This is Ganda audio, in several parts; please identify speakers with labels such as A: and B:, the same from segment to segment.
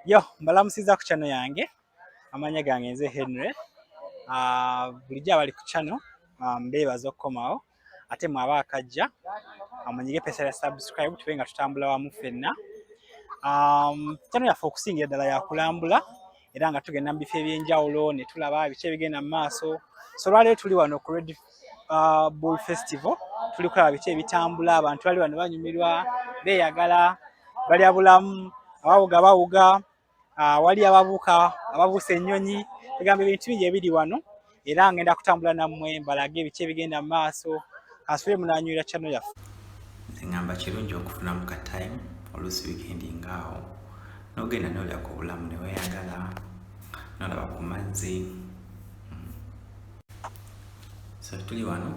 A: Yo, mbalamusiza ku channel yange. Amanya gange nze Henry. Ah, uh, bulijja abali ku channel ah, mbeebaza okukomawo ate mwaba akajja amunyige ah, pesa ya subscribe tube nga tutambula wamu fenna. Um, channel yaffe okusingira ddala yakulambula era nga tugenda mu bifo ebyenjawulo ne tulaba biki ebigenda mu maaso so olwaleero tuli wano ku red uh, bull festival tuli kulaba biki ebitambula abantu bali wano banyumirwa beeyagala balya bulamu abawuga bawuga uh, wali ababuuka ababuusa ennyonyi egamba ebintu bingi ebiri wano era ngenda kutambula nammwe mbalage ebiki ebigenda mu maaso kansubire munanywera channel yaffe nze ngamba
B: kirungi okufunamu ka time oluusi wikendi ngaawo nogenda nolya ku bulamu neweyagala nolaba ku mazzi hmm. so tuli wano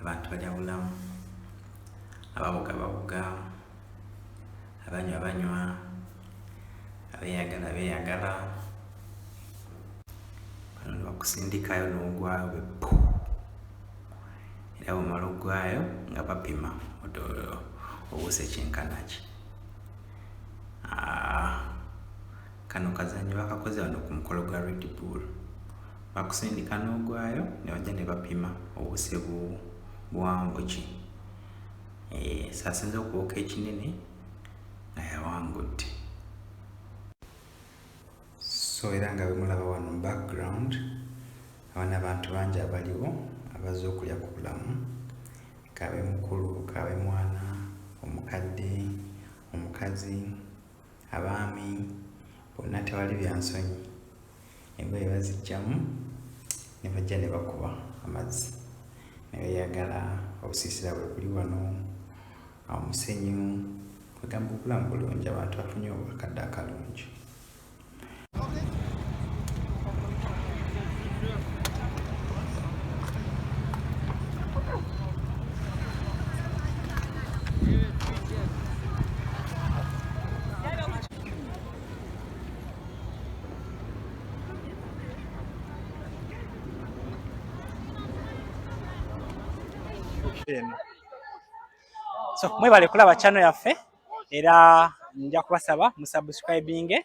B: abantu bajabulamu ababuga babuga abanywa banywa abeyagala beyagala bano nebakusindikayo nogwayo bepu era bumala ogwayo nga bapima obuuse kyenkanaki ah, kano kazanyo bakakoze bano ku mukolo gwa red bull bakusindika nogwayo nebajja nebapima obuse buwanvu ki Eh, sasinza okuwoka ekinene nga yawangudde so era nga bemulaba wano mu background abana abantu bangi abaliwo abaze okulya ku bulamu kabe mukulu kabe mwana omukadde omukazi abaami bonna tewali byansonyi engoye bazijjamu ne bajja ne bakuba amazzi ne beeyagala obusiisira bwe buli wano omusenyu kwegamba obulamu bulungi abantu bafunye obwakadde akalungi
A: eno so mwebale kulaba channel yaffe era nja kubasaba musubscribinge